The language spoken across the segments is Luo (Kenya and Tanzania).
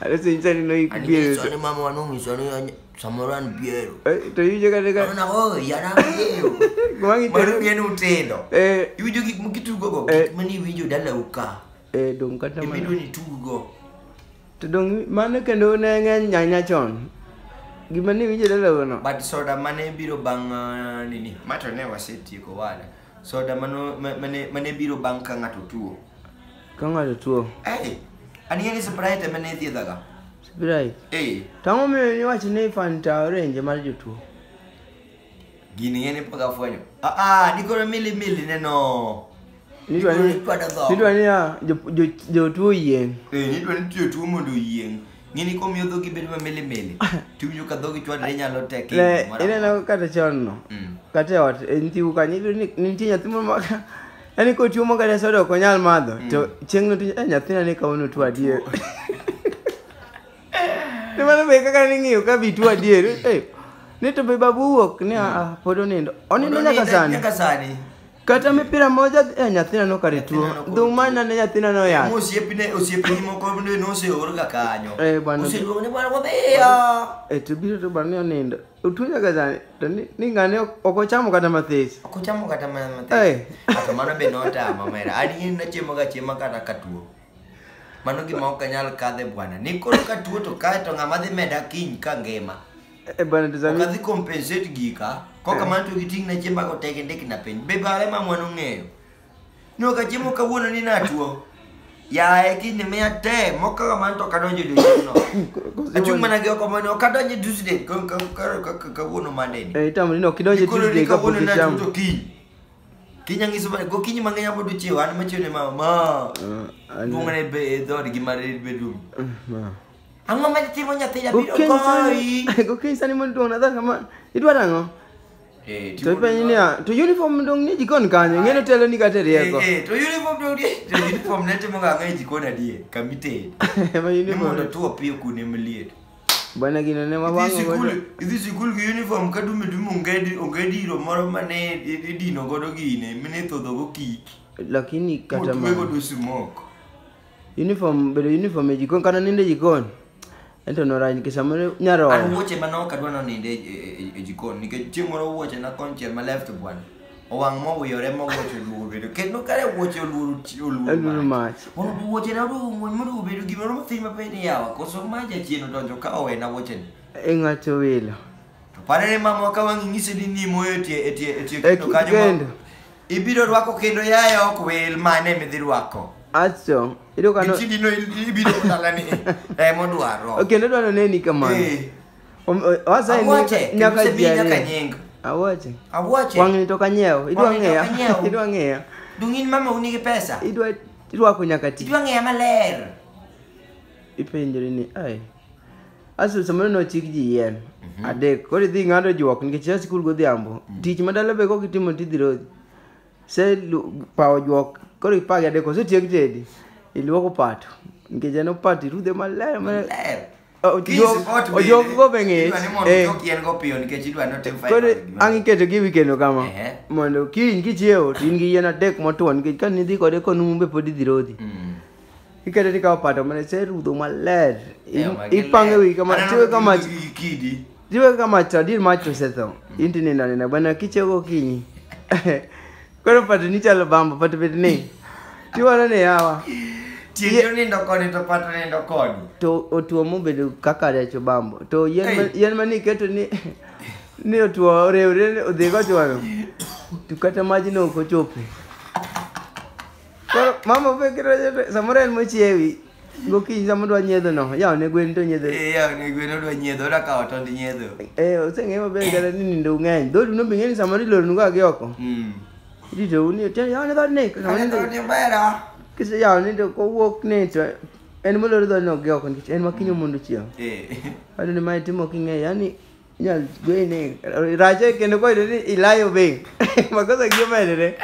Anasenjani no Ani ikubie. Yesu ani mama wanu ngiso ani ani samoro an biero. To yujo kata ka Ana oh yana biero. kumangi Mano tero. bien utendo. Eh Iwinjo gik mukitugo go, Eh. gik mani iwinjo dala uka. eh dong kata Ibido mana. ni tugo. To dong mano kendo ne ng'eny nyanya chon. Gima ne winjo dala wono. But soda mane biro bang' uh, nini? Mato ne wasetieko wada. Soda mano mane mane biro bang' ka ng'ato tuo. Ka ng'ato tuo. Eh. Ani ni Sprite ema ne thiedhaga. Sprite. Eh. Tang'o miyo ni wach ni Fanta orange mar jotuo. Gini ng'e ni pok afwenyo. Ah ah, ni koro mili mili neno. Nidwa ni nidwa ni ah, jotuo yieng'. Eh, nidwa ni jotuo mondo yieng'. Ng'ini komiyo dhogi bedo mamili mili. Tiwinjo ka dhogi chwadre nyalo tek. Le, ineno kata chon no. Mm. Kata e ot, e nyiu kanyo, iyudo ni ni nitie nyathi moro ma ka- yaani kotuo ma kata soda ok onyal madho, to chieng'no to eh, nyathina ni kawuono tuo adier. Ni mano be kaka ning'iyo ka bi tuo adier. Eh, Ni to be babu wuok ni ah, ah, pod onindo. Onindo nyaka sani. Nyaka sani. Kata mipira moja eh, nyathina nokare tuo. Nyathina nokare Dhuma tuo. nane nyathina noyach. Osiepne osiepni moko bende noseor ga kanyo. Eh, bwana. Oseluongo ni bwana wadhiya. Eh, to biro to bwana ni onindo. Otuo nyaka sani. To ni ni ng'ane ok ok ochamo kata mathis. Ok ochamo kata mana matin. Eh. Kata mano be notama mera. Adier nachiemo ga chiema kata katuo. Mano gima ok anyal kadhe bwana. Ni koro katuo to kae to ng'ama dhi meda kiny ka ngima. Eh, bana tazami. Okadhi compensate gika. Koka Eh. man to giting na chiemba go teke ndek na piny. Be bare ma mwan ong'eyo. No ka chiemo kawuono ni natuo. Yaye kinde miya te mokaga man to kadonjo dusno. Achung' mana gi oko mane okadonjo dusde kawuono mande ni. Eh, itamri ni ok idonj e Koro Tuesday ni ka pok kawuono na ichamo. tuto kiny. Kiny ang'iso mana go kiny mang'eny abodo chiewa an machiew ne mama. Ma. Ah, an- Duong' ne be e dhood gi mar bedroom. Ma. Ang'o ma timo nyathi jabiro Gokinyi goyi? sani- gokinyi sani mondo duong' nadhar kama idwaro ang'o Eh, to timo ipenji niya to uniform dong' ni jikon kanyo ing'e ni telo ni kata e rieko Eh, eh, to uniform to udi- to uniform ne timo ga ang'o e jikon adier kama itedo. Ema Ni uniform. mondo tuo piyo kuonde maliet. bwana gino ne Idhi wawang'o sikul, godo idhi sikul gi uniform ka dume dume ongedi, ongedi iro moro mane i- idino godo gine, mine ithodho go kik. lakini kata Motwe ma godo smoke. Uniform bedo uniform e jikon kana ninde jikon. Ento nora nikech samoro nyaro. An wuoche ma nok adwa noninde e, e, e jikon nikech chieng' moro wuoche na konchiel ma left bwan. Owang' mowiyore ma wuoche oluwo bedo. Kendo kare wuoche oluwo oluwo mach. Oluwo wuoche na oluwo wuoche ma oluwo bedo gimoro ma thima pe ni yawa. Koso ma jachien odonjo ka owena wuoche ni. E ng'ato wilo. To parere mama ka wang'i ng'ise ni nimo e tie e tie e tie kendo kanyo. Ibiro rwako kendo yaye ok wil mane midhi rwako. Acho, iyudo ka no- Gichidi no ibiro dalani eh modwaro. Okay, kendo dwa noneni kamano. Eh. Om- o- wasa ni- Awache, nyaka kendo ji nyaka ariyo. nying. Awache. Awache. Wang'ni to kanyiewo, idwa Wang'ni to ng'eya. kanyiewo. Idwa ng'eya. Dungin mama unigi pesa. Idwa irwako nyaka ti. Idwa ng'eya maler. Ipenjori ni, ai. Asil samoro nochik ji yien adek koro idhi ng'ado juok nikech ia sikul godhiambo tich ma dala be kok itimo tidhi rodhi se lu- pawo juok koro ipagi adek osetiek tedi iluoko pato nikech en opato irudhe maler maler. Ler. O- Kiss juok- pot bende. ojuok go be ng'ich. Idwa ni mondo Eh. ojuok yien go piyo nikech idwa ni otim fiber koro gi gimoro. ang' iketo gi wi kendo kama Ehe. mondo kiny kichiewo to in gi yien adek motwo nikech ka nidhi kode konumu be pod idhi rodhi Mm. Ikete ni kama pato mane se rudho maler. Eh, In- magi Ipange ler. wi kama Aneno tiwe kama gi- gi- gi kidi. tiwe kama chadir mach osetho. Inti nina nina bana kichego kinyi. Koro pato ni chalo bamba pato bet ni. Tiwara ne yawa. Tiende onindo koni to pato nindo koni. To otuo mobedo kaka recho bambo. To yien ma- Ei. yien mani iketo ni ni otuo orewre odhi gochwano. To kata majno ok ochope. Koro mama opekiro joto samoro en mochiewi gokinyi sama odwa nyiedho no yaw ne gwen to nyiedho Eh, yaw ne gwen odwa nyiedho odwa kawo tond nyiedho eh oseng'e maber kata ni nindo ng'eny dhodu no be ng'e ni samoro iloronu ga gi oko Mm. irito uni tiende yaw ne dhoodni Kata samoro nindo- dhood Nyabera. kise yaw ni to kowuok ni to en molor dhoodno gi oko nikech en makinyo mondo chiew Eh. Ado ni mae timo king'e yani Inyalo goyi ni rache kendo koyudo ni ilayo be. Makosa gi omedore.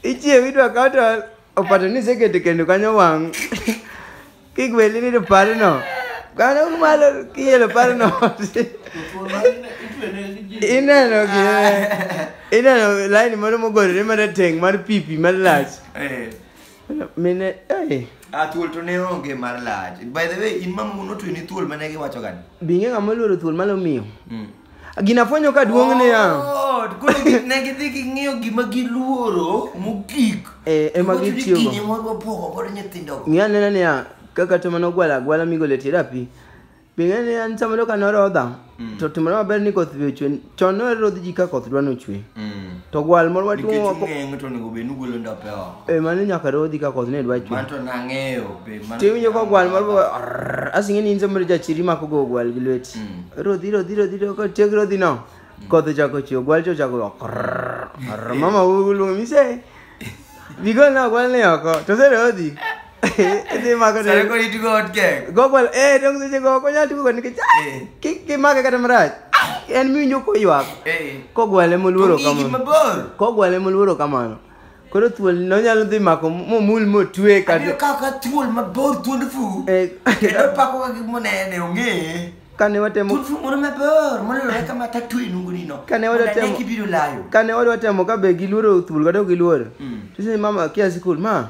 Ichiew idwa kaw to opato ni iseketo kendo kanyo wang'. Kik weli ni to parno. Kano malo kielo parno. Ineno gi ineno laini moro mogorore marateng' mar pipi malach. Eh. mine eh a thuol to ne onge mar lach by the way in mamu notwe ni thuol mane giwacho gani binge ng'ama oluoro thuol mane omiyo mm. gina fwenyo ka duong' ne ya oh, koro ne gidhi ging'iyo gima giluoro mogik eh, ema gitiyogo ng'i anena niya kaka to mane ogwala agwala migole tie dapi Bing'e ni an samoro ka norodha Mm. to timore maber ni koth be ochwe chon norodh ji ka koth dwa nochwe Mm. to gwal moro nikech watuomo wako ung'eng' to onego bed ni ugolo ndope oko e mano nyaka rodhi ka koth ne dwa chwe mano to nang'eyo be mano- tiwinjo ka gwal moro go, "Arrrr", asing'e ni in samoro jachiri mako go gwal gi lweti Mm. rodhi rodhi rodhi rodhi, ka tiek rodhi no koth ochako chwe gwal to ochako go, "Arrrr, arrrr, mama uluongo mise bigol na gwal ni oko to se rodhi Idhi mako ne. Sare ko itigo hot gang. Gogwal, eh, dong seche go ok onyal tugo nikech ah, Eh. kik kimake kata marach. Ah, En miwinjo koywak. Eh. Kogwale moluoro Ong'igi kamano. mabor. Kogwale moluoro kamano. Koro thuol no nyalo dhi mako momul motwe Abiro kata kawo ka thuol mabor thuond fu. Eh. Kendo pako ka gimonene ong'e. kane watemo Thuond fu moro mabor molore kama tatwe nungoni no. Kane wadwa Mondo ane temo- kibiro layo. kane wadwa temo ka be giluoro thuol kata ok giluoro. Mm. Tise mama kia sikul ma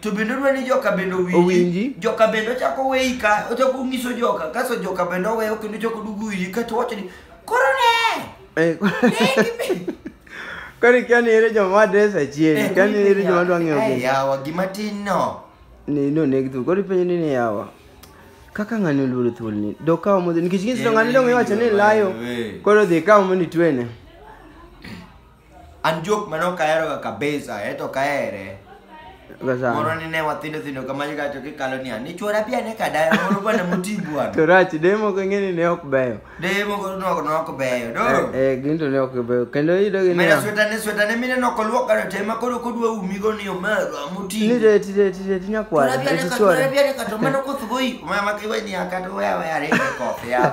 to bende odwa ni joka bende Owinji. owinji joka bende ochako weyi ka ochako onyiso joka kaso joka bende oweyo kendo ochako dugu wiyi kato wacho ni koro ne Eh, koro ikia ni ere joma wadres achiel ikia ni ere joma dwa ng'eyo Eh, gini yawa gima tin no ni no neg thuol koro ipenjo ni ni yawa kaka ng'ani oluoro thuol ni dokawo modhi nikech ng'isi to ng'ani dong iwacho ni layo koro dhi kawo mondo itwene An jok mane ok aheroga kabisa, eh to ok ahere. Moro Sasa. ni ne wathindo thindo kama gacho kikalo niya, ni chwora pia ne kadaya moro bwana moti bwana. To rach demo ko ng'eni ne ok beyo. Deye moko noko noko beyo, Eh, doro. eh, gin to ne ok beyo. Kendo iyudo gi Mena niya. sweta ne sweta ne mine noko luok gano te ma koro kodwa umigo ni omeru amoti. Ni de ti de ti de ti nyakwar. Chwora pia ne Ti kadaya, chwora. pia ne kadaya, mano koth goyi. Mama kiwe ni akato wewe arege koth ya.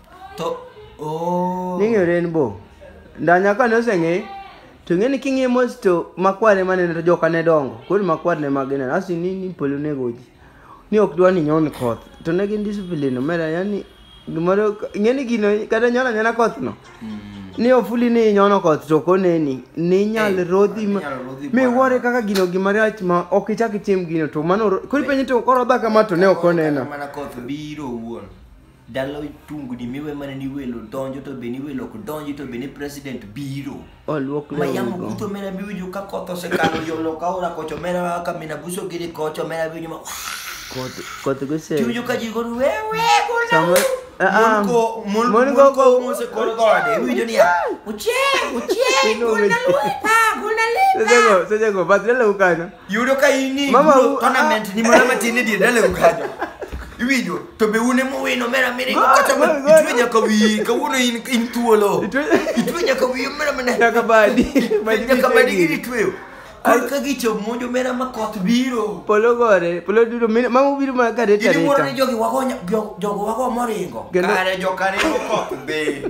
to oh ning'eyo rainbow ndanya kane oseng'e to ng'eni king'e mos to makwar ema nene to joka ne dongo koro makwar ne mage nene asi ni ni polo nego ji ni ok dwa ni nyon koth to ne gin discipline omera yani gimoro ng'eni gino kata nyon anyona koth no ni ofuli ni inyono koth to koneni ni inyal Eh, rodhi ma- inyal rodhi mi bwana. wuore kaka gino gima rach ma ok ichak itim gino to mano ro- koro ipenje to koro odha kama to ne ok onena mana koth biro wuon Dala tungni miwe mana ni welo donjo to be ni welo ok donji to be ni president biro. Oluok lewni Mayamo go. kuto mera biwinjo ka koth osekalo yolo ka ora kocho mera kaka mina buso giri kocho mera biwinjo ma Koth koth gose. tiwinjo ka ji goru wewe Sama ah Monko, mon- mon go monko go mose kor gode iwinjo niya Uchieng, uchieng, Iluongo gol na ji. lwepa, gol na limba. Sejego sejego badre lew kanyo. Yudo ka in ni Mama, bro, u- tournament ni mana matin e dier dala ukajo. Iwinjo, to be un ema uwin omera miringo Go- kata go- ma- go- itwe nyaka wiyi, kawuono in in thuolo. Itwe- Itwe nyaka wiyi omera mana. Nyaka badi. Badi Nyaka badi gini. gini tweyo. Kor ka gicho monjo omera ma koth biro. Polo gore, polo dudo, mine- mama ubiro mana ka reta Gini wuoro ni reta. jogi wago nya- jo- jogo wago moringo. Kendo- Kare jo kare go koth be.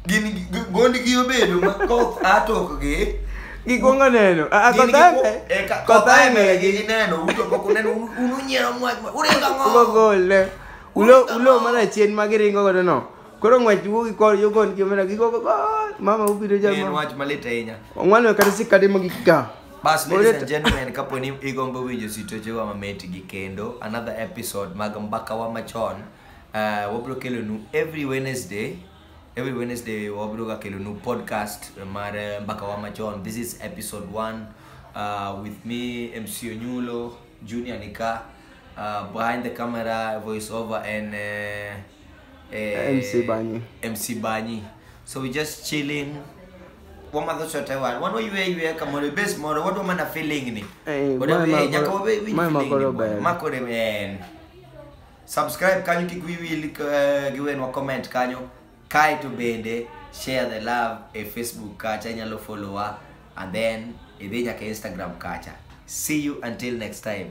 Gini gi- gondgi obedo ma koth atokgi. Gikwongo neno. Ah, ah, Gin koth giku- aye- eh, ka- koth koth aye aye neno gi- gineno, uto pok uneno, un- un unyiero mwach ma- uringo ang'o? Ugo gol ne. Ulo Ulo- ulo mana chien ma giringo godo no. Koro ng'wech wuogi kor yo gon kimena gigo go gol. Mama ubiro Ne en jama. wach malit ahinya Ong'wano kata sikade mo gika. bas Ore- ladies and gentlemen kapo ni igombo winjo sitochewa mamit gi kendo another episode mag mbakawa machon uh, wabiro kelonu every wednesday every wednesday wabiroga kelonu podcast mar eh, mbaka wa machon this is episode 1 uh, with me mc onyulo junior nika uh, behind the camera voice over and uh, uh, MC Banyi. mc banyi so we just chilling wamadho chote wan wan waywe ywe kamoro bes moro wadwa mana feeling ni Eh, Wadwa- mae eh, makoro- nyaka wabe- winj mae feeling ni makoro bwana. ber. makore en subscribe kanyo kik wiyi wil eh, gi wenwa comment kanyo kae to bende share the love e facebook kacha inyalo followa and then idhi nyaka instagram kacha see you until next time